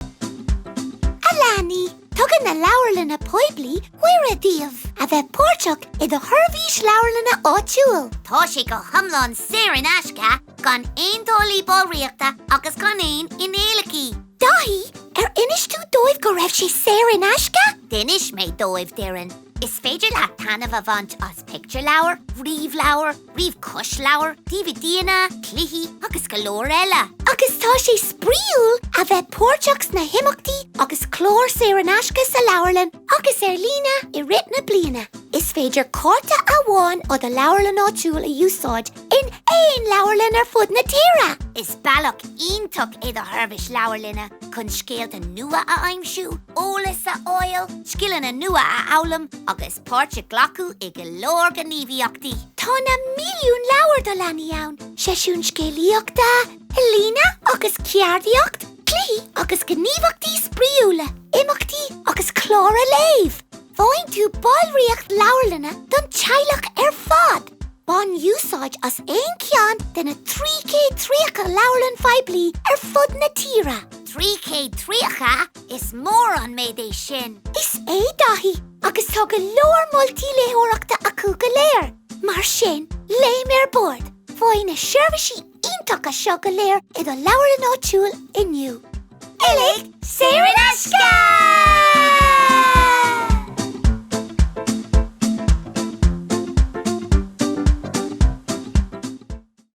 A leanaí, tugann na Leabharlanna Poiblí cuireadh daoibh a bheith páirteach i do sheirbhís leabharlainne áitiúil. Tá sé go hiomlán saor in aisce, gan aon táillí ballraíochta agus gan aon fhíneálacha. Daithí, Ar inis tú dóibh go raibh sé saor in aisce? D'inis mé dóibh, Doireann. Is féidir leat taitneamh a bhaint as pictiúrleabhair, ríomhleabhair, ríomh-chlosleabhair, DVDanna, cluichí agus go leor eile. Agus tá sé spraíúil a bheith páirteach sna himeachtaí agus cláir saor in aisce sa leabharlann agus ar líne i rith na bliana. Is féidir cárta amháin ó do leabharlann áitiúil a úsáid in aon leabharlann ar fud na tíre. Is bealach iontach é do sheirbhís leabharlainne chun scéalta nua a aimsiú, eolas a fháil, scileanna nua a fhoghlaim agus páirt a ghlacadh i go leor gníomhaíochtaí. Tá na milliúin leabhar do leanaí ann, seisiúin scéalaíochta, ealaíne agus ceardaíocht, cluichí agus gníomhaíochtaí spraíúla, imeachtaí agus cláracha léimh. Faigheann tú ballraíocht leabharlainne don teaghlach ar fad. Bain úsáid as aon cheann de na 330 leabharlann phoiblí ar fud na tíre. 330? Is mór an méid é sin! Is é, Daithí. agus tá go leor moltaí léitheoireachta acu go léir, mar sin, léim ar bord! Faigh na seirbhísí iontacha seo go léir i do leabharlann áitiúil inniu. Uilig saor in aisce!